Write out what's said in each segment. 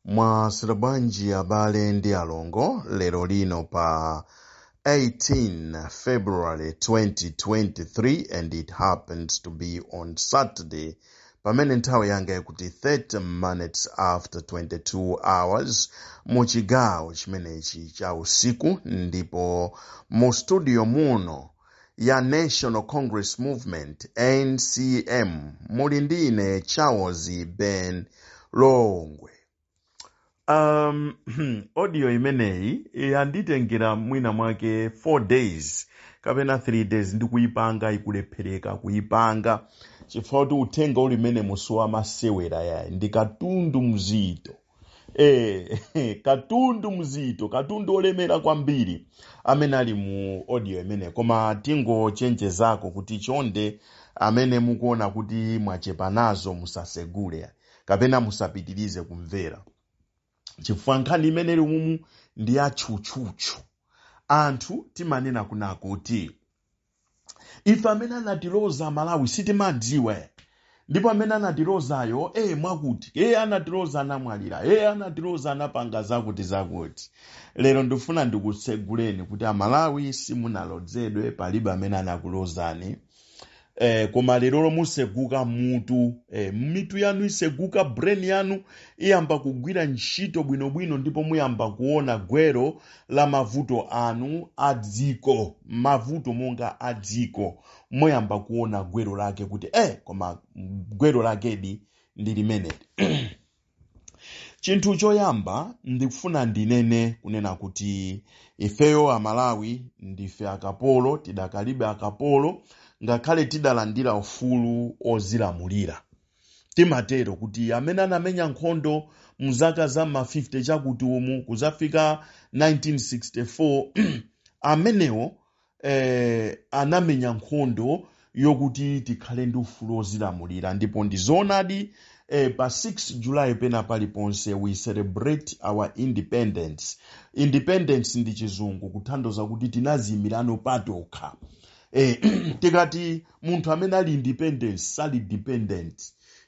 mwaswera bwanji abale ndi alongo lero lino pa 18 february 2023 and it happens to be on saturday pamene nthawi yanga ikuti 30 minutes after 22 hours mu chigawo chimenechi cha usiku ndipo mu studio muno ya National Congress Movement, NCM. Muli ndi ine Charles Ben Longwe. Um, audio imeneyi yanditengera mwina mwake 4 days kapena 3 days ndikuyipanga ikulephereka kuyipanga chifukwa kuti uthenga uli mmenemu si wa masewera yayi ndikatundu mzito Eh, katundu mzito katundu olemera kwambiri amene ali mu audio imeneyi koma tingochenjezako kuti chonde amene mukuona kuti mwachepa nazo musasegule kapena musapitirize kumvera chifukwa nkhani imene ili mumu ndi ya tchutchutchu anthu timanena kunena kuti ife amene anatiloza amalawi sitimadziwa ndipo amene anatilozayo e mwakuti-mwakuti e anatiloza anamwalira e anatiloza anapanga zakuti zakuti lero ndifuna ndikutseguleni kuti amalawi simunalodzedwe palibe amene anakulozani eh, koma lerolo museguka mutu eh, mitu yanu iseguka brain yanu iyamba kugwira ntchito bwinobwino ndipo muyamba kuona gwero la mavuto anu a dziko, mavuto monga a dziko, muyamba kuona gwero lake kuti eh, koma gwero lakedi ndi limeneli. Chinthu choyamba ndikufuna ndinene kunena kuti ifeyo Amalawi ndife akapolo, tidakalibe akapolo ngakhale tidalandira ufulu ozilamulira. Timatero kuti amene anamenya nkhondo mu zaka za ma 50 chakuti umu kuzafika 1964 amenewo eh, anamenya nkhondo yokuti tikhale ndi ufulu wozilamulira ndipo ndi zoonadi eh, pa 6 July pena paliponse we celebrate our independence. Independence ndi chizungu kutanthauza kuti tinaziyimirano patokha. eh, tikati munthu amene ali independent sali dependent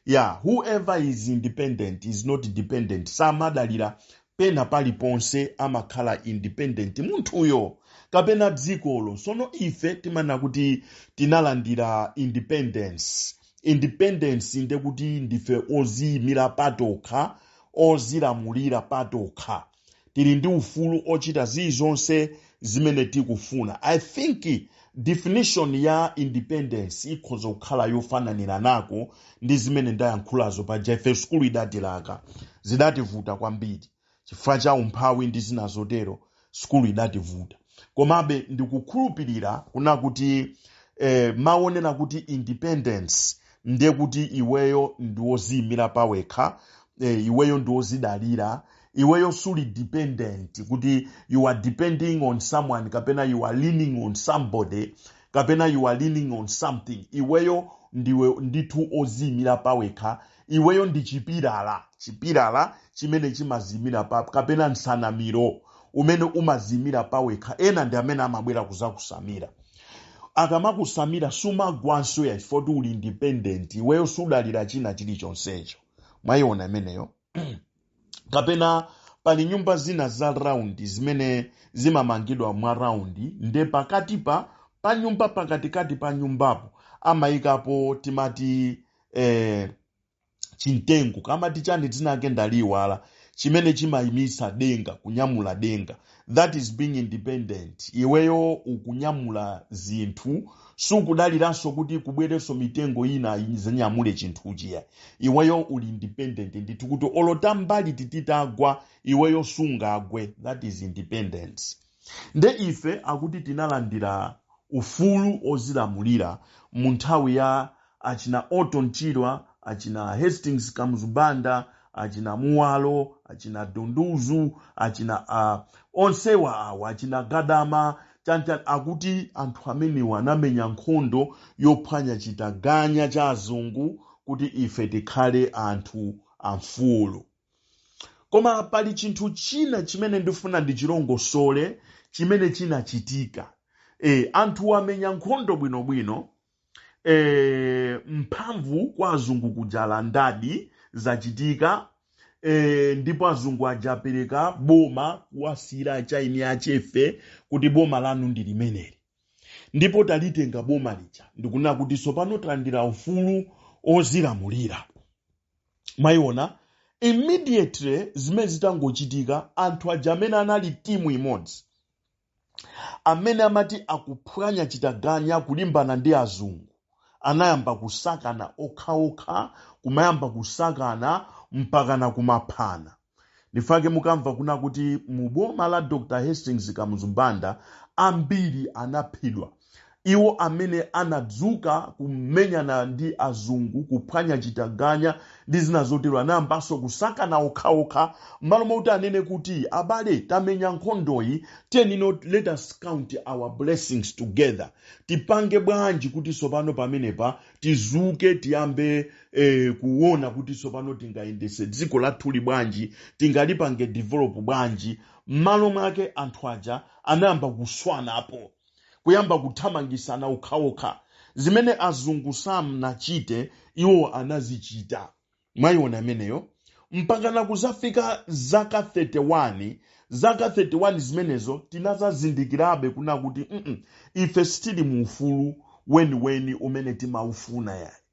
yeah whoever is independent is not dependent samadalira pena paliponse amakhala independent munthuyo kapena dzikolo sono ife timanena kuti tinalandira independence independence ndekuti ndife oziyimira patokha ozilamulira patokha tili ndi ufulu ochita zilizonse zimene tikufuna i think definition ya independence ikhoza kukhala yofananiranako ndi zimene ndayankhulazo paja ife sukulu idatilaka zidativuta kwambiri chifukwa cha umphawi ndi zina zotero sukulu idativuta komabe ndikukhulupirira kuna kuti eh, mmawonera kuti independence ndiye kuti iweyo ndiwoziyimira pawekha eh, iweyo ndiwozidalira iweyo suli dependent kuti you are depending on someone kapena you are leaning on somebody kapena you are leaning on something iweyo ndiwe ndithu oziyimira pawekha iweyo ndi chipilala chipilala chimene chimaziyimira pa kapena nsanamiro umene umaziyimira pawekha ena ndi amene amabwera kuzakusamira akamakusamira sumagwanso ayi chifukwa uli independent iweyo sudalira china chilichonsecho mwayiona imeneyo kapena pali nyumba zina za raundi zimene zimamangidwa mwa raundi nde pakati pa pa nyumba pakatikati pa nyumbapo amayikapo timati eh, chimtengo kamati chani dzina lake ndaliyiwala chimene chimayimitsa denga kunyamula denga that is being independent iweyo ukunyamula zinthu sukudaliranso kuti kubwerenso mitengo ina izanyamule chinthuchi ayi iweyo uli independent ndithu kuti olo tambaliti titagwa iweyo sungagwe that is independence nde ife akuti tinalandira ufulu ozilamulira mu nthawi ya achina Orton Chirwa, achina Hastings Kamuzu Banda, achina Muwalo, achina Dunduzu, achina a onsewa awa achina Gadama chanchani akuti anthu amenewa anamenya nkhondo yophwanya chitaganya cha azungu kuti ife tikhale anthu amfulu. Koma pali chinthu china chimene ndifuna ndichilongosole chimene chinachitika. E, anthu amenya nkhondo bwinobwino e, mphamvu kwa azungu kuja alandadi zachitika e, ndipo azungu ajapereka boma kuwasiyira eni achefe kuti boma lanu ndi limeneli ndipo talitenga boma lija ndikunena kuti tsopano talandira ufulu ozilamulira mwayiona immediately zimene zitangochitika anthu aja amene anali timu imodzi amene amati akuphwanya chitaganya kulimbana ndi azungu anayamba kusakana okhaokha kumayamba kusakana mpakana kumaphana nchifukwa chake mukamva kuna kuti mu boma la dr hastings kamuzu banda ambiri anaphedwa iwo amene anadzuka kumenyana ndi azungu kuphwanya chitaganya ndi zina zotero anayambanso kusakana okhaokha m'malo mwakuti anene kuti abale tamenya nkhondoyi tiyeni now let us count our blessings together tipange bwanji kuti tsopano pamenepa tizuke tiyambe eh, kuona kuti tsopano tingayendese dziko lathuli bwanji tingalipange develop bwanji m'malo mwake anthu aja anayamba kuswanapo kuyamba kuthamangisana okhaokha zimene azungu sanachite iwo anazichita mwayiona imeneyo mpakana kuzafika zaka 31 zaka 31 zimenezo tinazazindikirabe kuna kuti mm, ife sitili mu ufulu weniweni umene timaufuna yayi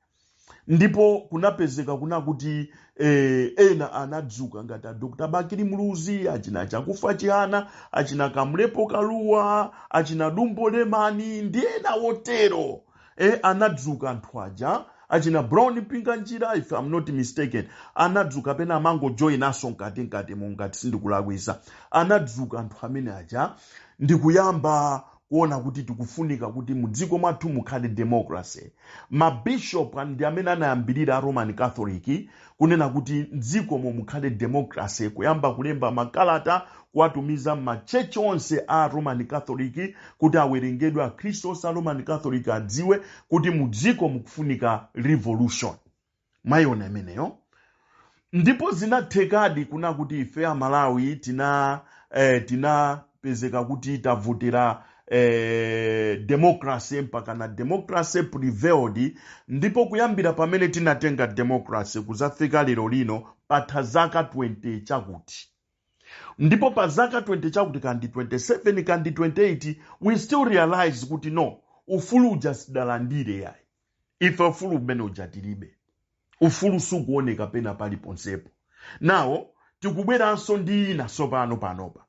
ndipo kunapezeka kuna kuti eh, ena anadzuka ngati a dr bakili muluzi achina chakufa chihana achina kamlepo kaluwa achina dumbo lemani ndi ena otero eh, anadzuka anthu aja achina brown mpinganjira if i'm not mistaken anadzuka pena anangojoyinaso mkati mkati mu ngati sindikulakwisa anadzuka anthu amene aja ndikuyamba kuona kuti tikufunika kuti mu dziko mwathu mukhale democracy mabishop an- ndi amene anayambirira a roman catholic kunena kuti m'dzikomo mukhale democracy kuyamba kulemba makalata kuwatumiza m'matchechi onse a roman catholic kuti awerengedwe akhristu onse a roman catholic adziwe kuti mu dziko mukufunika revolution mwayiona imeneyo ndipo zinathekadi kuna kuti ife amalawi tina eh, tinapezeka kuti tavotera eh, democracy mpakana democracy prevailed ndipo kuyambira pamene tinatenga democracy kuzafika lero lino patha zaka 20 chakuti ndipo pa zaka 20 chakuti kandi 27 kandi 28 we still realize kuti no ufulu uja sidalandire yayi ife ufulu umene uja tilibe ufulu sukuoneka pena paliponsepo now tikubweranso ndi ina tsopano panopa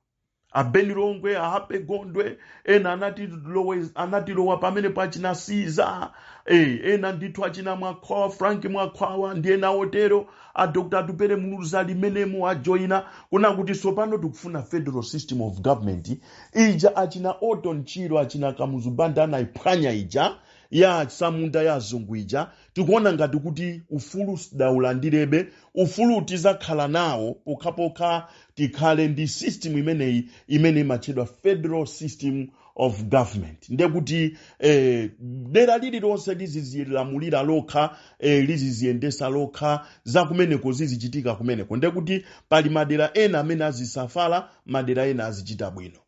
a ben longwe a happy gondwe ena anatilowe- anatilowa pamene pa achina siza eh, ena ndithu achina mwakhwawa frank mwakhwawa ndi ena otero a dr atupele muluzi ali m'menemo ajoyina kuna kuti tsopano tikufuna federal system of government ija achina orton chirwa achina kamuzu banda anayiphwanya ija ya atsamunda ya azungu ija tikuona ngati kuti ufulu sidaulandirebe ufulu tizakhala nawo pokhapokha tikhale ndi system imeneyi imene imatchedwa federal system of government ndiye kuti eh, dera lililonse lizizilamulira lokha eh, liziziyendesa lokha zakumeneko zizichitika kumeneko ndiye kuti pali madera ena amene azisuffer madera ena azichita bwino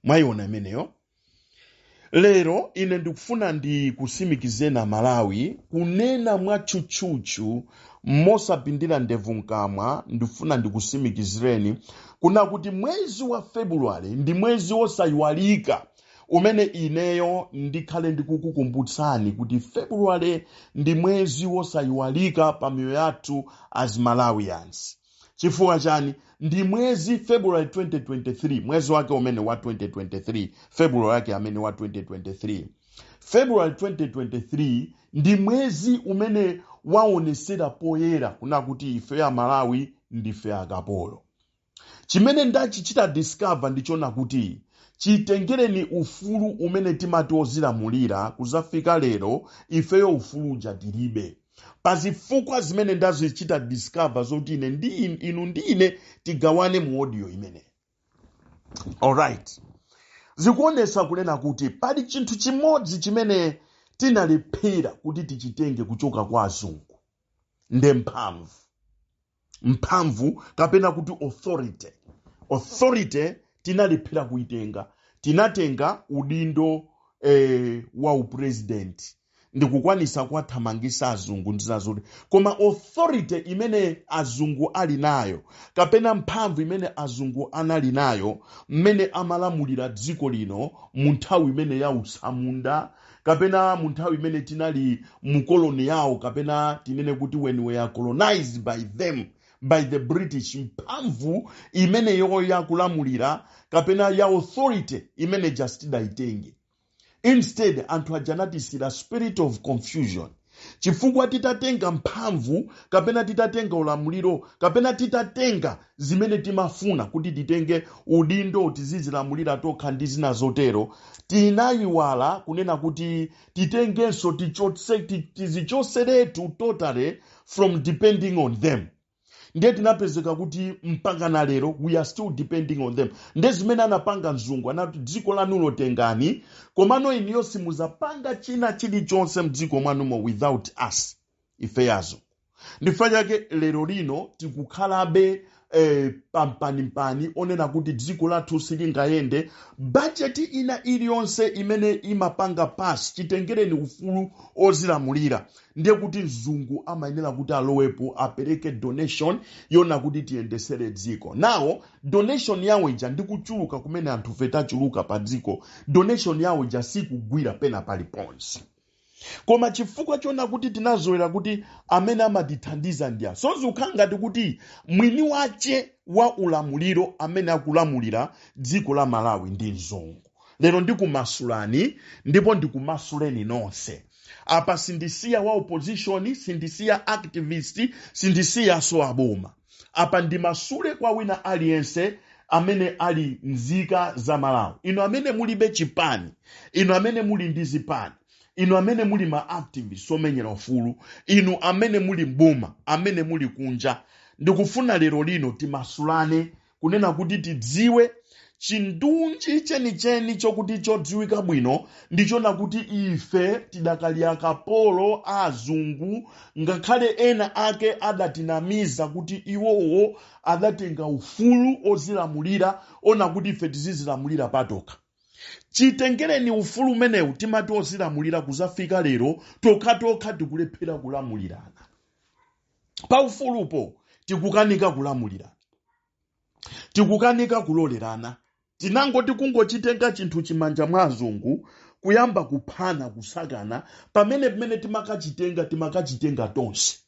mwayiona imeneyo lero ine ndikufuna ndikusimikizireni amalawi kunena mwatchutchutchu mosapindira ndevu mkamwa ndikufuna ndikusimikizireni kuna kuti mwezi wa februwale ndi mwezi wosayiwalika umene ineyo ndikhale ndikukukumbutsani kuti februwale ndi mwezi wosayiwalika pa miyoyo yathu as malawians chifukwa chani ndi mwezi february 2023 mwezi wake umene wa 2023 february wake amene wa 2023 february 2023 ndi mwezi umene waonesera poyera kuna kuti ife amalawi ndife akapolo chimene ndachichita discover ndi chonena kuti chitengereni ufulu umene timati ozilamulira kuzafika lero ifeyo ufulu uja tilibe pa zifukwa zimene ndazichita discover zoti ine inu ndi ine tigawane mu audio imeneyi alright zikuonesa kunena kuti pali chinthu chimodzi chimene tinalephera kuti tichitenge kuchoka kwa azungu nde mphamvu mphamvu kapena kuti authority authority tinalephera kuitenga tinatenga udindo eh, wa upresident ndikukwanisa kuwathamangisa azungu ndi zazoti koma authority imene azungu ali nayo kapena mphamvu imene azungu anali nayo mmene amalamulira dziko lino mu nthawi imene ya utsamunda kapena mu nthawi imene tinali mu koloni yawo kapena tinene kuti when we were colonized by them by the british mphamvu imeneyo yakulamulira kapena ya authority imene ija sitidayitenge instead anthu aja anatisiyira spirit of confusion chifukwa titatenga mphamvu kapena titatenga ulamuliro kapena titatenga zimene timafuna kuti titenge udindo tizizilamulira tokha ndi zina zotero tinayiwala kunena kuti titengenso tizichoseretu totally from depending on them ndiye tinapezeka kuti mpaka na lero we are still depending on them nde zimene anapanga mzungu anati dziko lanulo tengani komano iniyo simuzapanga china chilichonse mdziko mwanumo without us ife azungu ndifukwa chake lero lino tikukhalabe eh, pampanimpani onena kuti dziko lathu silingayende bajeti ina iliyonse imene imapanga pass chitengereni ufulu ozilamulira ndiye kuti mzungu amayenera kuti alowepo apereke donation yona kuti tiyendesere dziko now donation yawo ija ndi kuchuluka kumene anthufe tachuluka pa dziko donation yawo ija sikugwira pena paliponse koma chifukwa chona kuti tinazolowera kuti amene amatithandiza ndi awa so zikukhala ngati kuti mwini wache wa ulamuliro amene akulamulira dziko la malawi ndi mzungu lero ndikumasulani ndipo ndikumasuleni nonse apa sindisiya wa opposition sindisiya activist sindisiyaso aboma apa ndimasule kwa wina aliyense amene ali nzika za malawi inu amene mulibe chipani inu amene muli ndi zipani inu amene muli ma activist omenyera ufulu inu amene muli mboma amene muli kunja ndikufuna lero lino timasulane kunena kuti tidziwe chindunji chenicheni chokuti chodziwika bwino ndichona kuti ife tidakali akapolo a azungu ngakhale ena ake adatinamiza kuti iwowo adatenga ufulu ozilamulira ona kuti ife tizizilamulira patokha chitengereni ufulu umenewu timati ozilamulira kuzafika lero tokhatokha tikulephera kulamulirana pa ufulupo tikukanika kulamulira tikukanika kulolerana tinangoti kungochitenga chinthu chija mmanja mwa azungu kuyamba kuphana kusakana pamene timakachitenga timakachitenga tonse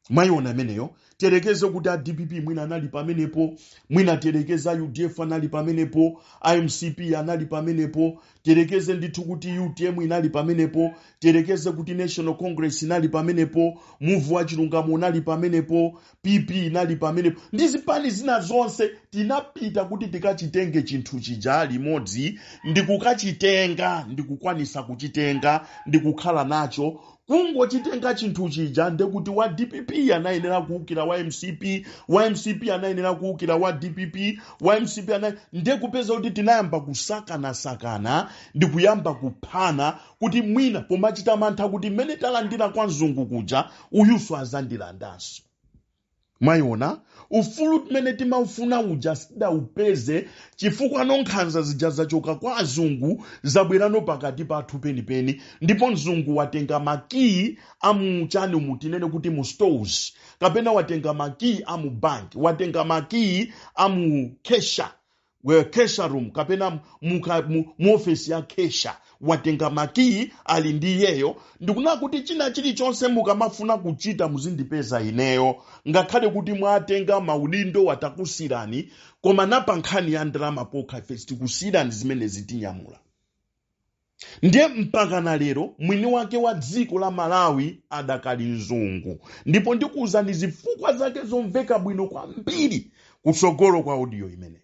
mwayiona imeneyo tiyerekeze kuti a dpp mwina anali pamenepo mwina tiyerekeze a udf anali pamenepo a mcp anali pamenepo tiyerekeze ndithu kuti utm inali pamenepo tiyerekeze kuti national congress inali pamenepo muvu wa chilungamo unali pamenepo pp inali pamenepo ndi zipani zina zonse tinapita kuti tikachitenge chinthu chija limodzi ndikukachitenga ndikukwanisa kuchitenga ndikukhala nacho Kungochitenga chinthu chija ndekuti wa dpp anayenera kuukira wa mcp wa mcp anayenera kuukira wa dpp wa mcp ana ndekupeza kuti tinayamba kusakanasakana ndi kuyamba kuphana kuti mwina pomachita mantha kuti mmene talandira kwa mzungu kuja uyuso azandilandanso mwayiona ufulu timene timaufuna uja sidaupeze chifukwa nonkhanza zija zachoka kwa azungu zabwerano pakati pathu penipeni ndipo mzungu watenga makiyi amuchani umu tinene kuti mu stores kapena watenga makiyi amu bank watenga makiyi amu kesha wa cashier room kapena muka- mu mu ofesi ya cashier watenga makiyi ali ndi iyeyo ndikunena kuti china chilichonse mukamafuna kuchita muzindipeza ineyo ngakhale kuti mwatenga maudindo watakusirani koma pa nkhani ya ndalama pokha ife sitikusirani zimene zitinyamula ndiye mpakana lero mwini wake wa dziko la malawi adakali mzungu ndipo ndikuwuzani zifukwa zake zomveka bwino kwambiri kutsogolo kwa audio imeneyi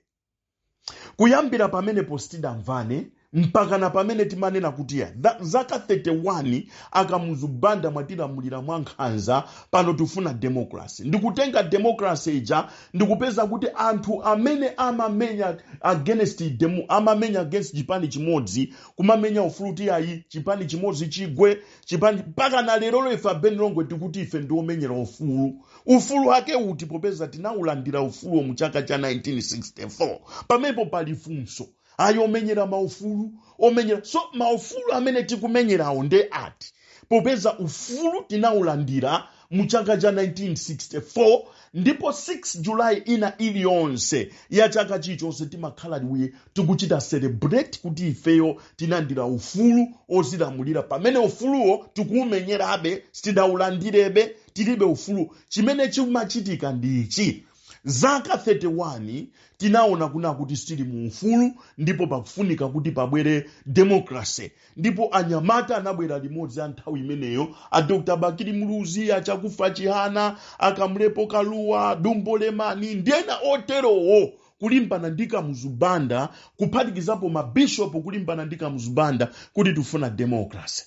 kuyambira pamenepo sitidamvane mpakana pamene timanena kuti ya tha- zaka 31 a kamuzu banda mwatilamulira mwa nkhanza pano tifuna demokrasi ndikutenga demokrasi ija ndikupeza kuti anthu amene amamenya against demo amamenya against chipani chimodzi kumamenya ufulu kuti ayi chipani chimodzi chigwe chipani mpaka na lerolo ife a beni longwe tikuti ife ndiomenyera ufulu ufulu wake uti popeza tinaulandira ufuluwo mu chaka cha 1964 pamenepo pali funso ayi omenyera maufulu omenyeranso maufulu amene tikumenyerawo nde ati popeza ufulu tinaulandira mu chaka cha 1964 ndipo 6 julayi ina iliyonse ya chaka chilichonse timakhala ife tikuchita celebrate kuti ifeyo tinalandira ufulu ozilamulira pamene ufuluwo tikuumenyerabe sitidaulandirebe tilibe ufulu chimene chimachitika ndi ichi Zaka 31 tinaona kunena kuti sitili mu ufulu ndipo pakufunika kuti pabwere democracy ndipo anyamata anabwera limodzi a nthawi imeneyo a Dr. Bakili Muluzi a Chakufwa Chihana a Kamlepo Kalua Dumbo Lemani ndi ena oterowo kulimbana ndi Kamuzu Banda kuphatikizapo mabishopu kulimbana ndi Kamuzu Banda kuti tifuna democracy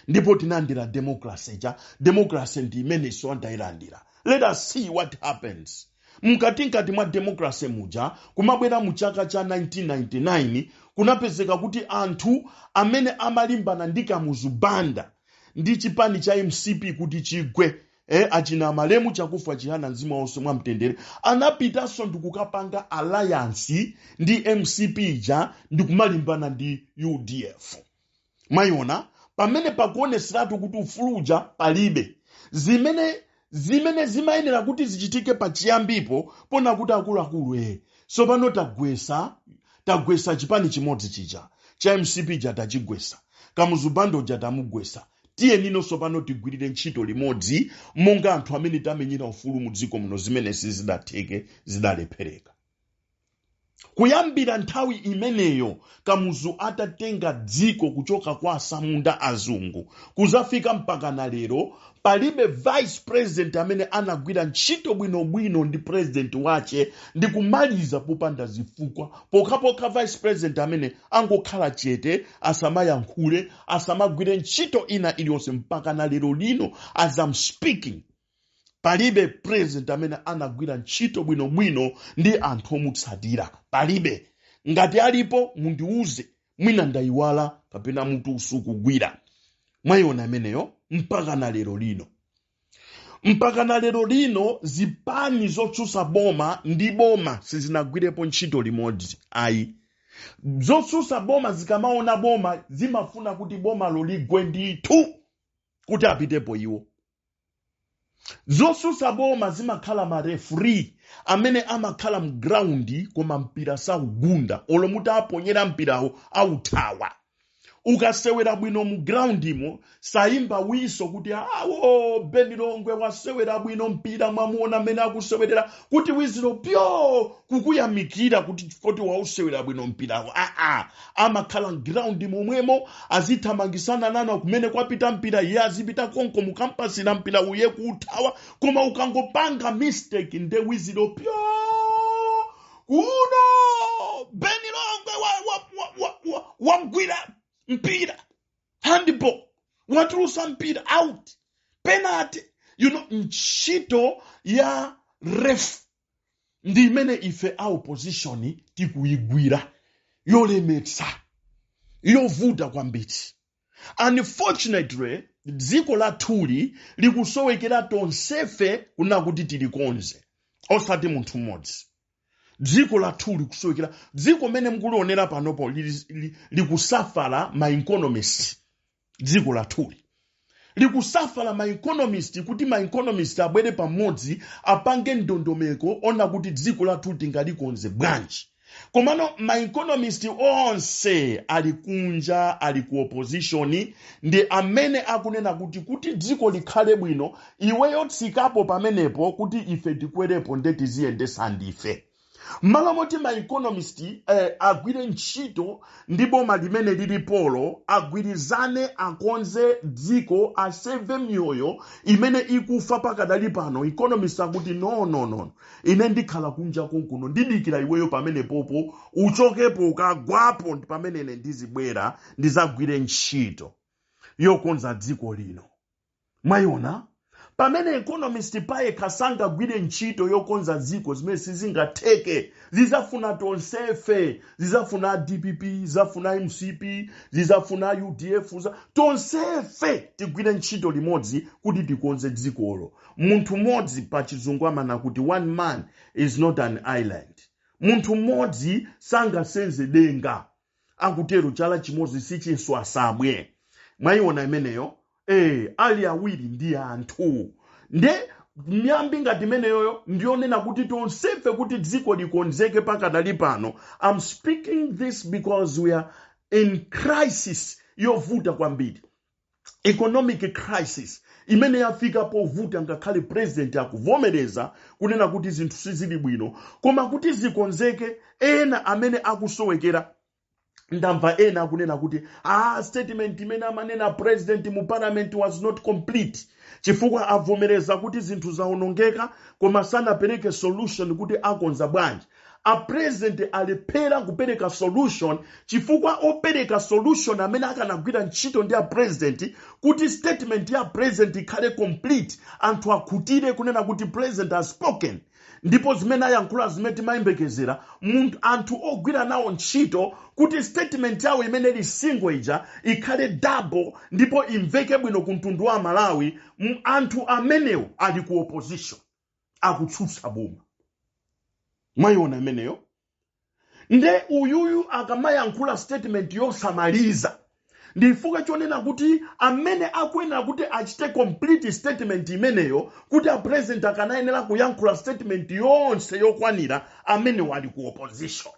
ndipo tinalandira democracy ija democracy ndi imenenso tinayilandira let us see what happens mkati mkati mwa democracy muja kumabwera mu chaka cha 1999 kunapezeka kuti anthu amene amalimbana ndi kamuzu banda ndi chipani cha mcp kuti chigwe eh, achina malemu chakufwa chihana mzimu wawo uwuse mwa mtendere anapitanso ndikukapanga alliance ndi mcp ija ndikumalimbana ndi udf mwayiona pamene pakuoneseratu kuti ufulu uja palibe zimene zimene zimayenera kuti zichitike pachiyambipo ponena kuti akuluakulu e sopano tagwesa tagwesa chipani chimodzi chija cha mcp ija tachigwesa kamuzu banda uja tamugwesa tiyeni no sopano tigwirire ntchito limodzi monga anthu amene tamenyera ufulu mu dziko muno zimene sizidatheke zidalephereka Kuyambira nthawi imeneyo, Kamuzu atatenga dziko kuchoka kwa atsamunda azungu kuzafika mpakana lero, palibe vice president amene anagwira ntchito bwino bwino ndi president wache ndikumaliza popanda zifukwa, pokhapokha vice president amene angokhala chete, asamayankhule, asamagwire ntchito ina iliyonse mpakana lero lino as I'm speaking. palibe president amene anagwira ntchito bwinobwino ndi anthu omutsatira palibe ngati alipo mundiuze mwina ndayiwala kapena mutu usukugwira mwayiona imeneyo mpaka na lero lino mpaka na lero lino zipani zotsutsa boma ndi boma sizinagwirepo ntchito limodzi ayi zotsutsa boma zikamaona boma zimafuna kuti bomalo ligwe ndithu kuti apitepo iwo zosusa boma zimakhala ma referee amene amakhala mground koma mpira saugunda olo muti aponyera mpirawo authawa ukasewera bwino mu groundimo sayimba wiso kuti awo beni longwe wasewera bwino mpira mwamuona mmene akusewerera kuti wiziro pyo kukuyamikira kuti kuti wausewera bwino mpirawo aa amakhala ground momwemo azithamangisana nawo kumene kwapita mpira iye azipita konko mukampasira mpira iye kuuthawa koma ukangopanga mistake nde wiziro pyo kuno beni longwe wamgwira wa, wa, wa, wa wagwira mpira handball watulusa mpira out penalty you know ntchito ya ref ndi imene ife a opposition tikuyigwira yolemetsa yovuta kwambiri unfortunately dziko lathuli likusowekera tonsefe kunena kuti tilikonze osati munthu mmodzi dziko lathuli likusowekera dziko mene mukulionera panopo lili- li- likusafala ma economist dziko lathuli likusafala ma economist kuti ma economist abwere pamodzi apange ndondomeko ona kuti dziko lathuli tingalikonze bwanji komano ma economist onse ali kunja ali ku opposition ndi amene akunena kuti kuti dziko likhale bwino iweyo tsikapo pamenepo kuti ife tikwerepo nde tiziyendesa ndife m'malo moti ma economist eh, agwire ntchito ndi boma limene lilipolo agwirizane akonze dziko aseve miyoyo imene ikufa pakadali pano economist akuti no no no ine ndikhala kunja konkuno ndidikira iweyo pamenepopo uchokepo ukagwapo ndi pamene ine ndizibwera ndizagwire ntchito yokonza dziko lino mwayiona pamene economist payekha sangagwire ntchito yokonza dziko zimene sizingatheke zizafuna tonsefe zizafuna dpp zizafuna mcp zizafuna udf za- tonsefe tigwire ntchito limodzi kuti tikonze dzikolo munthu mmodzi pa chizungu amanena kuti one man is not an island munthu mmodzi sangasenze denga akutero chala chimodzi sichiswa nsabwe mwayiona imeneyo eh ali awiri ndi anthu nde miyambi ngati imeneyoyo ndiyonena kuti tonsefe kuti dziko likonzeke pakadali pano i'm speaking this because we are in crisis yovuta kwambiri economic crisis imene yafika povuta ngakhale president akuvomereza kunena kuti zinthu sizili bwino koma kuti zikonzeke ena amene akusowekera ndamva ena akunena kuti ah, statement imene amanena president mu parliament was not complete chifukwa avomereza kuti zinthu zaonongeka koma sanapereke solution kuti akonza bwanji a president alephera kupereka solution chifukwa opereka solution amene akanagwira ntchito ndi a president kuti statement ya president ikhale complete anthu akhutire kunena kuti president has spoken ndipo zimene ayankhula zimene timayembekezera munthu anthu ogwira nawo ntchito kuti statement yawo imene ili single ija ikhale double ndipo imveke bwino ku mtundu wa amalawi anthu amenewo ali ku opposition akutsutsa boma mwayiona imeneyo nde uyuyu akamayankhula statement yosamaliza ndifukwa chonena kuti amene akuyenera kuti achite complete statement imeneyo kuti a president akanayenera kuyankhula statement yonse yokwanira amenewo ali ku opposition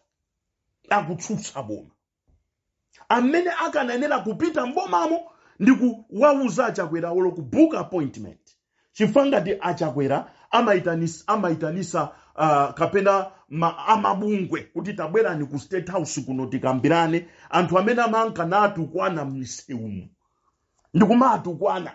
akutsutsa boma amene akanayenera kupita mbomamo ndi kuwauza achakwera olo ku book appointment chifukwa ngati achakwera amaitanis- amaitanisa uh, kapena ma, amabungwe kuti tabwerani ku state house kuno tikambirane anthu amene amanka natukwana m'misewumu ndikumatukwana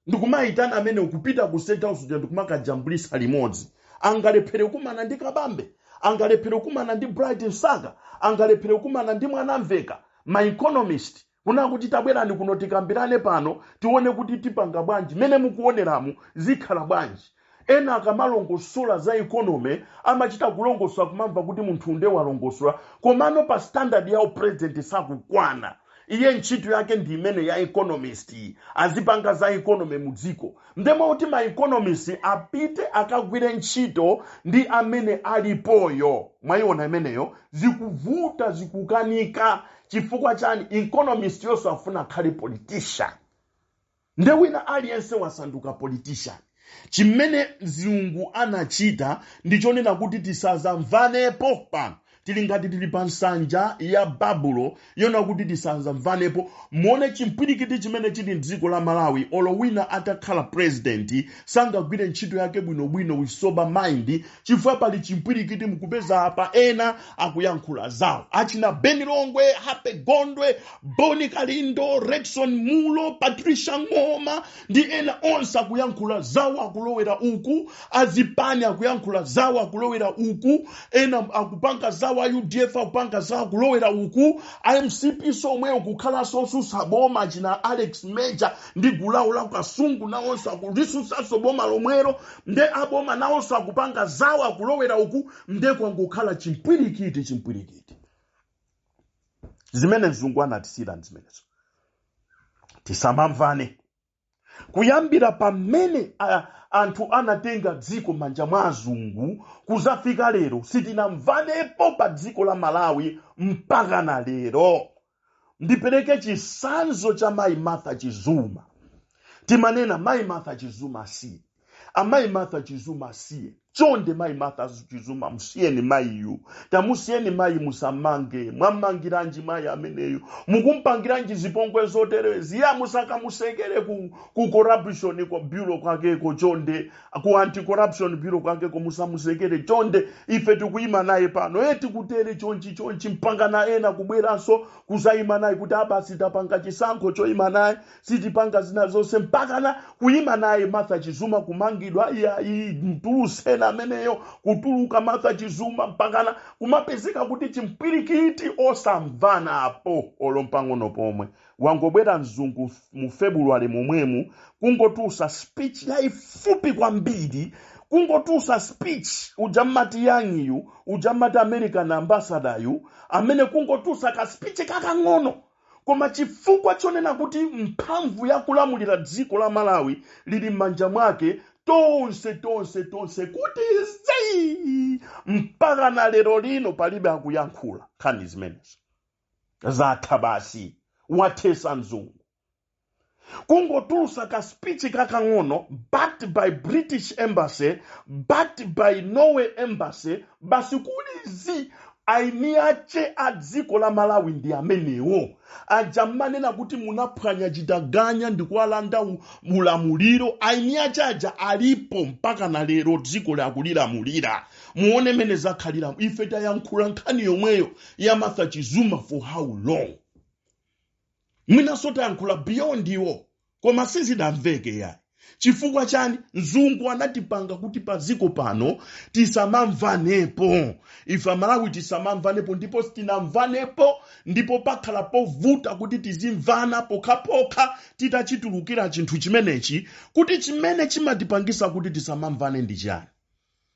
ndikumayitana amene akupita ku state house uja ndikumakajambulisa limodzi angalephere kumana ndi kabambe angalephere kumana ndi bright msaka angalephere kumana ndi mwanamveka ma economist kuna kuti tabwerani kuno tikambirane pano tione kuti tipanga bwanji mmene mukuoneramu zikhala bwanji Ena akamalongosola za economy amachita kulongosola kumamva kuti munthu nde walongosola komano pa standard ya upresident sakukwana iye ntchito yake ndi imene ya economist azipanga za economy mu dziko nde mmalo moti ma economist apite akagwire ntchito ndi amene alipoyo mwayiona imeneyo zikuvuta zikukanika chifukwa chani economist iyenso afuna akhale politician nde wina aliyense wasanduka politician chimene mzungu anachita ndi chonena kuti tisazamvanepo pano tili ngati tili pa nsanja ya babulo yonena kuti tisazamvanepo muone chimpwirikiti chimene chili mdziko la malawi olo wina atakhala president sangagwire ntchito yake bwinobwino with sober mind chifukwa pali chimpwirikiti mukupeza apa ena akuyankhula zawo achina ben longwe happy gondwe bon kalindo redson munlo patricia ng'oma ndi ena onse akuyankhula zawo akulowera uku azipani akuyankhula zawo akulowera uku ena akupanga zawo a udf akupanga zawo akulowera uku a mcp somweyo akukhalanso osusa boma achina alex major ndi gulu lawo la kasungu nawonso akulisusanso boma lomwero nde aboma nawonso akupanga zawo akulowera uku nde kwangokhala chimpwirikiti chimpwirikiti zimene mzungu anatisiyira ndi zimenezo tisamamvane kuyambira pamene a- anthu anatenga dziko manja mwa azungu kuzafika lero sitinamvanepo pa dziko la malawi mpaka na lero ndipereke chisanzo cha mayi martha chizuma timanena mayi martha chizuma si amayi martha chizuma asiye chonde mayi martha chizuma musiyeni mayiyu tamusiyeni mayi musamange mwamangiranji mayi ameneyu mukumpangiranji zipongwe zoterezi ya musakamusekere ku, ku corruption kwa bureau kwakeko chonde ku anti corruption bureau kwakeko musamusekere chonde ife tikuyima naye pano eti kutere chonchi chonchi mpakana ena kubweranso kuzayima naye kuti abasi tapanga chisankho choyima naye sitipanga zina zonse mpakana kuyima naye martha chizuma kumangidwa iyayi mtuluseni ameneyo kutuluka martha chizuma mpakana kumapezeka kuti chimpwirikiti osamvana apo olo mpang'ono pomwe wangobwera mzungu mu february momwemu kungotulusa speech yayifupi kwambiri kungotulusa speech uja mmati young-yu uja mmati american ambassador yu amene kungotulusa ka speech kakang'ono koma chifukwa chonena kuti mphamvu ya kulamulira dziko la malawi lili m'manja mwake tonse tonse tonse kuti zii mpaka na lero lino palibe akuyankhula nkhani zimenezo zatha basi wathesa mzungu kungotulusa ka speech kakang'ono backed by british embassy backed by norway embassy basi kuli zii aini ache a dziko la malawi ndi amenewo aja mmanena kuti munaphwanya chitaganya ndikuwalanda u- ulamuliro aini ache aja alipo mpaka na lero dzikoli akulilamulira muone mene zakhalira ife tayankhula nkhani yomweyo ya martha chizuma for how long mwinanso tayankhula beyond iwo koma sizidamveke yayi chifukwa chani mzungu anatipanga kuti padziko pano tisamamvanepo ife amalawi tisamamvanepo ndipo sitinamvanepo ndipo pakhala povuta kuti tizimvana pokhapokha titachitulukira chinthu chimenechi kuti chimene chimatipangisa kuti tisamamvane ndi chani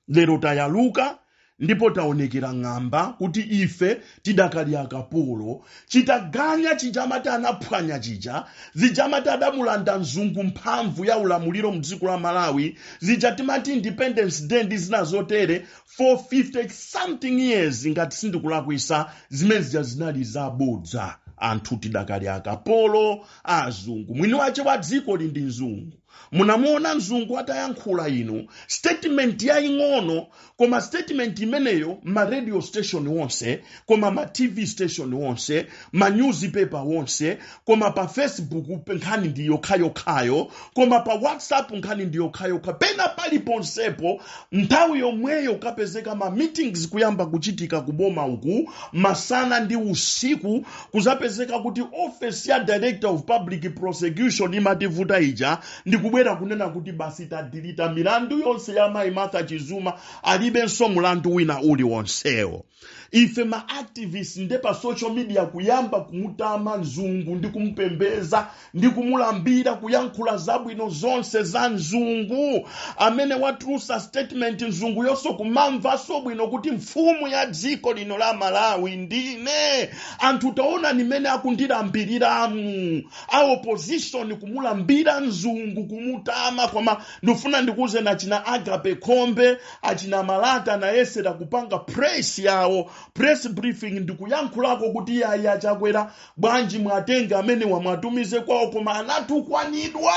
lero tayaluka ndipo taonekera ng'amba kuti ife tidakali akapolo chitaganya chija amati anaphwanya chija zija amati adamulanda mzungu mphamvu ya ulamuliro mdziko la malawi zija timati independence day ndi zina zotere for 50 something years ngati sindikulakwisa zimene zija zinali zabodza anthu tidakali akapolo azungu mwini wache wa dziko lino ndi mzungu munamuona mzungu atayankhula ino statement yaying'ono koma statement imeneyo ma radio station wonse koma ma tv station wonse ma newspaper wonse koma pa facebook nkhani ndi yokhayokhayo koma pa whatsapp nkhani ndi yokhayokha pena paliponsepo nthawi yomweyo kupezeka ma meetings kuyamba kuchitika kuboma uku masana ndi usiku kuzapezeka kuti office ya director of public prosecution imativuta ija ndi kubwera kunena kuti basi tadilita milandu yonse ya mayi martha chizuma alibenso mulandu wina uliwonsewo ife ma activists nde pa social media kuyamba kumutama mzungu ndi kumupembeza ndi kumulambira kuyankhula zabwino zonse za mzungu amene watulusa statement mzunguyonso kumamvaso bwino kuti mfumu ya dziko lino la malawi ndine anthu taona mmene akundilambiriramu a opposition kumulambira mzungu kumutama koma ndifuna ndikuuzeni achina agape khombe achina malata anayesera kupanga press yawo press briefing ndikuyankhulako kuti yayi a chakwera bwanji muwatenge amenewa muwatumize kwawo koma anatukwanidwa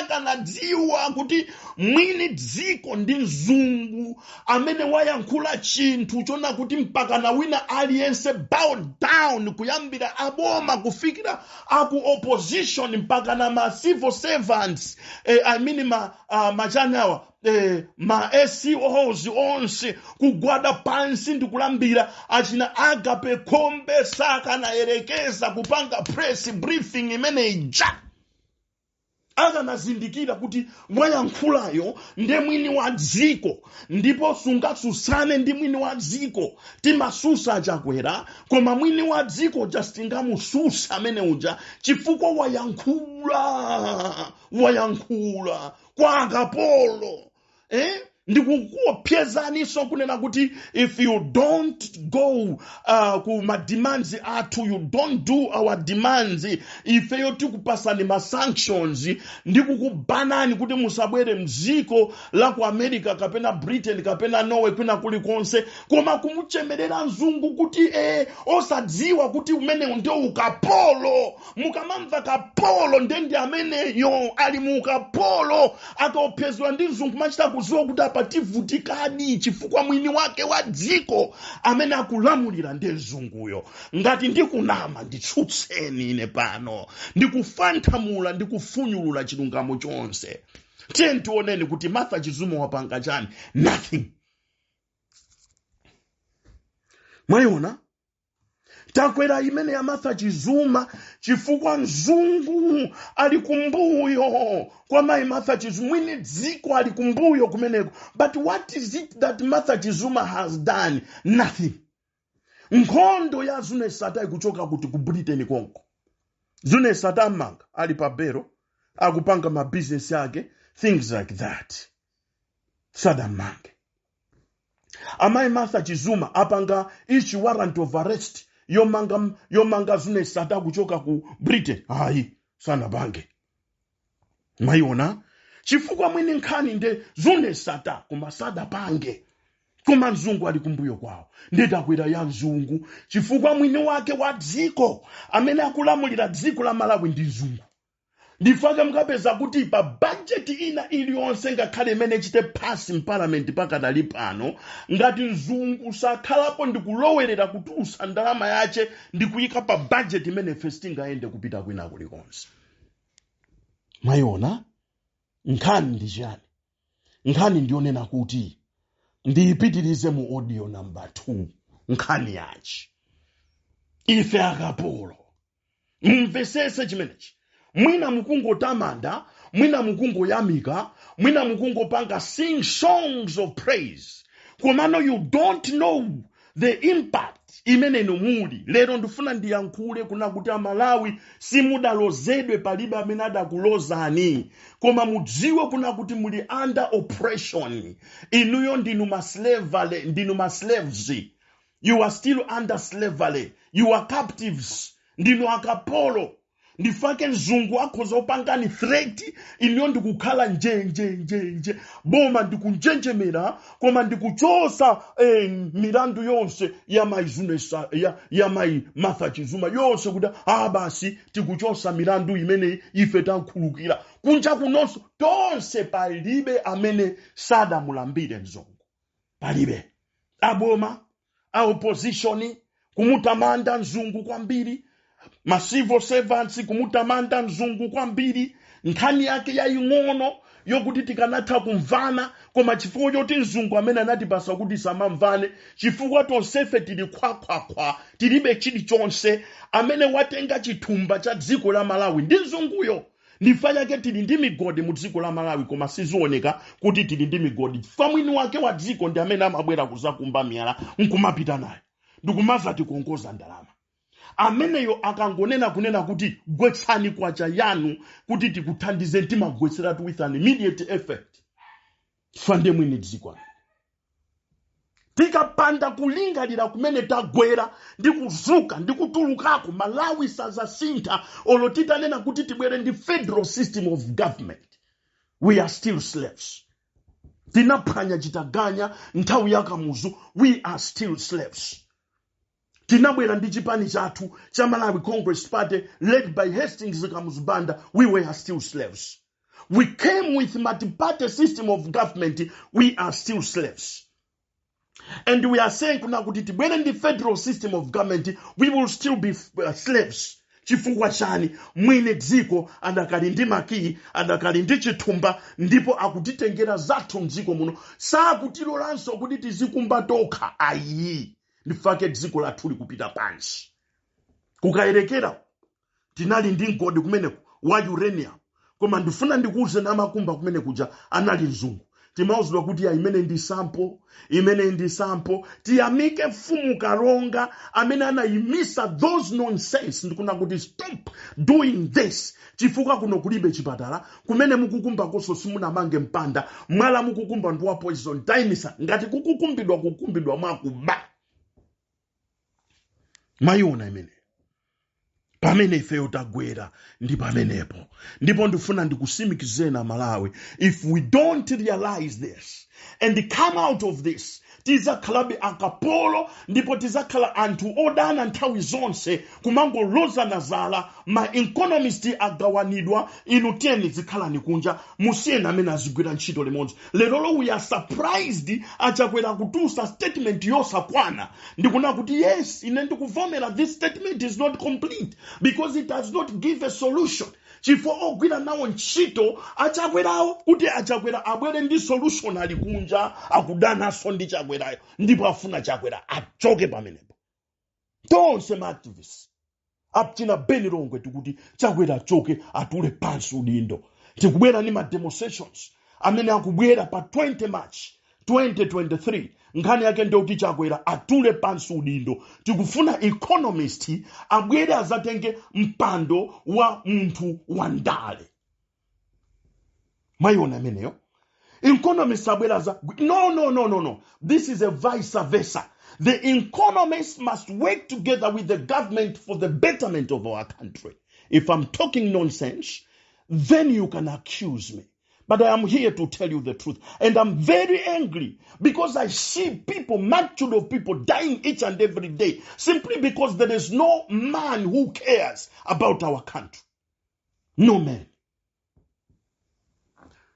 akanadziwa kuti mwini dziko ndi mzungu amene wayankhula chinthu chona kuti mpakana wina aliyense bow down kuyambira aboma kufikira aku opposition mpakana ma civil servants eh, i mean ma, uh, machani awa eh, ma SEOs onse kugwada pansi ndi kulambira achina agape khombe sakanayerekeza kupanga press briefing imene ija akanazindikira kuti wayankhulayo nde mwini wa dziko ndipo sungasusane ndi mwini wa dziko timasusa a chakwera koma mwini wa dziko uja sitingamususa amene uja chifukwa wayankhula wayankhula kwa akapolo eh? ndikukuopsezaninso kunena kuti if you don't go uh, ku mademands athu you don't do our demands ifeyo tikupatsani ma sanctions ndikukubanani kuti musabwere mdziko la ku america kapena britain kapena norway kwina kulikonse koma kumuchemerera mzungu kuti eh, osadziwa kuti umenewu ndiwo ukapolo mukamamva kapolo nde ndi ameneyo ali mu ukapolo, akaopsezedwa ndi mzungu machita kuziwa kuti apa tivutikadi chifukwa mwini wake wa dziko amene akulamulira ndi mzunguyo ngati ndikunama nditsutseni ine pano ndikufanthamula ndikufunyulula chilungamo chonse tiyeni tioneni kuti martha chizuma wapanga chani nothing mwayiona takwera imene ya martha chizuma chifukwa mzungu ali kumbuyo kwa mayi martha chizuma mwini dziko ali kumbuyo kumeneko but what is it that martha chizuma has done nothing nkhondo ya zuneth sattar ikuchoka kuti ku britain konko zuneth sattar amanga ali pa belo akupanga mabizinesi ake things like that sadammange amayi martha chizuma apanga ichi warrant of arrest yomanga yomanga zuneth sattar kuchoka ku britain ayi sanapange mwayiona chifukwa mwini nkhani nde zuneth sattar koma sadapange koma mzungu ali kumbuyo kwawo nde takwera ya mzungu chifukwa mwini wake wa dziko amene akulamulira dziko la malawi ndi mzungu ndi chifukwa chake mukapeza kuti pa bajeti ina iliyonse ngakhale imene ichite pasi mpalamenti pakadali pano ngati mzungu sakhalapo ndikulowerera kutulutsa ndalama yace ndikuyika pa bajeti imene ife sitingayende kupita kwina kulikonse mwayiona nkhani ndi chiyani nkhani ndiyonena kuti ndiyipitirize mu audio number 2 nkhani yaci ife akapolo mumvesese chimenechi mwina mukungotamanda mwina mukungoyamika mwina mukungopanga sing songs of praise komano you don't know the impact imene inu muli lero ndifuna ndiyankhule kuna kuti amalawi simudalozedwe palibe amene adakulozani koma mudziwe kuna kuti muli under oppression inuyo ndinu masle- ndinu maslaves you are still under slavery you are captives ndinu akapolo ndifake mzungu akhoza kukupangani threat iniyo ndikukhala njenjenjenje boma ndikunjenjemera koma ndikuchosa eh, milandu yonse ya mai zunesa ya, ya mai martha chizuma yonse kuti a basi tikuchosa milandu imeneyi ife tamkhululukira kunja kunonso tonse palibe amene sadamulambire mzungu palibe aboma a opposition kumutamanda mzungu kwambiri ma civil servants kumutamanda mzungu kwambiri nkhani yake yaying'ono yokuti tikanatha kumvana koma chifukwa choti mzungu amene anatipasa kuti samamvane chifukwa tonsefe tili khwakhwakhwa tilibe chilichonse amene watenga chithumba cha dziko la malawi ndi mzunguyo ndifa chake tili ndi migodi mu dziko la malawi koma sizioneka kuti tili ndi migodi chifukwa mwini wake wa dziko ndi amene amabwera kuzakumba miyala nkumapita nayo ndikumazatikongoza ndalama ameneyo akangonena kunena kuti gwetsani kwacha yanu kuti tikuthandize timagwetseratu with an immediate effect chifukwa ndiye mwini dziko tikapanda kulingalira kumene tagwera ndi kuzuka ndi kutulukako malawi sazasintha olo titanena kuti tibwere ndi federal system of government we are still slaves tinaphwanya chitaganya nthawi ya kamuzu we are still slaves Tinabwera ndi chipani chathu cha Malawi Congress Party led by Hastings Kamuzu Banda, we were still slaves. We came with multi-party system of government, we are still slaves. And we are saying kuna kuti tibwere ndi federal system of government, we will still be uh, slaves. Chifukwa chani mwini dziko adakali ndi makiyi adakali ndi chithumba ndipo akutitengera zathu mdziko muno sakutilolanso kuti tizikumba tokha ayi ndifake dziko lathu likupita pansi kukayerekera tinali ndi mgodi kumeneko wa uranium koma ndifuna ndikuuzeni amakumba kumene kuja anali mzungu timauzidwa kuti ya imene ndi sampo imene ndi sampo tiyamike mfumu kalonga amene anayimisa those nonsense ndikuna kuti stop doing this chifukwa kuno kulibe chipatala kumene mukukumbakoso simunamange mpanda mwala mukukumba ndi wa poison taimisa ngati kukukumbidwa kukumbidwa mwakuba mwayiona imeneyo pamene ifeyo tagwera ndi pamenepo ndipo ndifuna ndikusimikizeni amalawi if we don't realize this and come out of this tizakhalabe akapolo ndipo tizakhala anthu odana nthawi zonse kumangolozana zala ma economist agawanidwa inu tiyeni zikhalani kunja musiyeni amene azigwira ntchito limodzi lerolo we are surprised achakwera kutulutsa statement yosakwana ndikunena kuti yes ine ndikuvomera this statement is not complete because it does not give a solution chifukwa ogwira nawo ntchito achakwerawo kuti achakwera abwere ndi solution ali kunja akudananso ndi chakwerayo ndipo afuna chakwera achoke pamenepo tonse ma activists achina beni longwe tikuti chakwera achoke atule pansi udindo tikubwera ndi ma demonstrations amene akubwera pa 20 march 2023 nkhani yake ndiyoti chakwera atule pansi udindo tikufuna economist abwere azatenge mpando wa munthu wa ndale mwayiona imeneyo economist abwere aza no no no no no this is a vice versa the economists must work together with the government for the betterment of our country if i'm talking nonsense then you can accuse me But I am here to tell you the truth. And I'm very angry because I see people, multitude of people dying each and every day simply because there is no man who cares about our country. No man.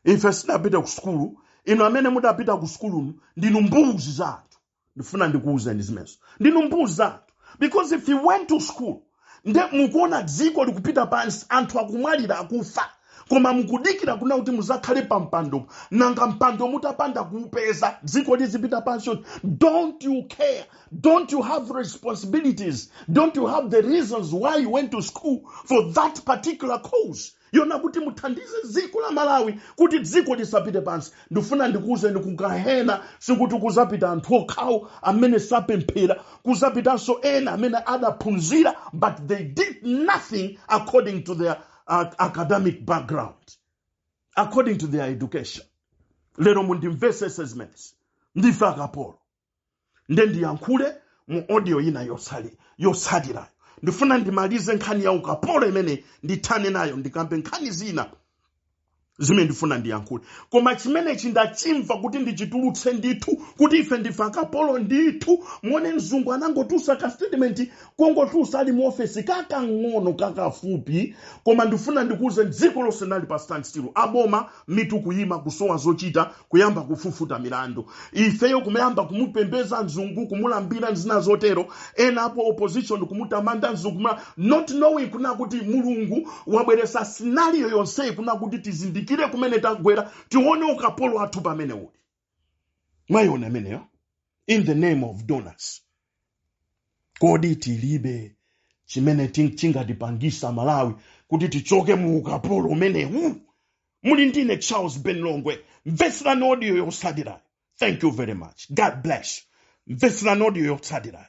If I snap it at school, inu amene mudapita ku sukulu ndinu mbuzi za anthu ndifuna ndikuwuzeni zimenezo ndinu mbuzi zathu because if you went to school nde mukuona dziko likupita pansi anthu akumwalira akufa koma mukudikira kuna kuti muzakhale pa mpando nanga mpando mutapanda kuupeza dziko lizipita pansi yoti don't you care don't you have responsibilities don't you have the reasons why you went to school for that particular cause yonena kuti muthandize dziko la malawi kuti dziko lisapite pansi ndifuna ndikuwuzeni kugahena sikuti kuzapita anthu okhawo amene sapemphera kuzapitanso ena amene adaphunzira but they did nothing according to their uh, academic background according to their education lero mundimvesese zimenezi ndife akapolo nde ndiyankhule mu audio ina yotsatirayo ndifuna ndimalize nkhani ya ukapolo imene ndithane nayo ndikambe nkhani zina zimene ndifuna ndiyankhule koma chimenechi ndachimva kuti ndichitulutse ndithu kuti ife ndife akapolo ndithu muone mzungu anangotulutsa ka statement kungotulutsa ali mu ofesi kakang'ono kakafupi koma ndifuna ndikuuzeni dziko lonse linali pa standstill aboma mitu kuyima kusowa zochita kuyamba kufufuta milandu ifeyo kumayamba kumupembeza mzungu kumulambira zina zotero ena a opposition kumutamanda mzungu not knowing kuna kuti mulungu wabweresa scenario yonseyi kuna kuti tizindikire kumene tagwera tione ukapolo wathu pamene uli mwayiona imeneyo in the name of donors kodi tilibe chimene chingatipangise malawi kuti tichoke mu ukapolo umenewu muli ndine charles ben longwe mvetserani audio yotsatirayo thank you very much god bless you mvetserani audio yotsatirayo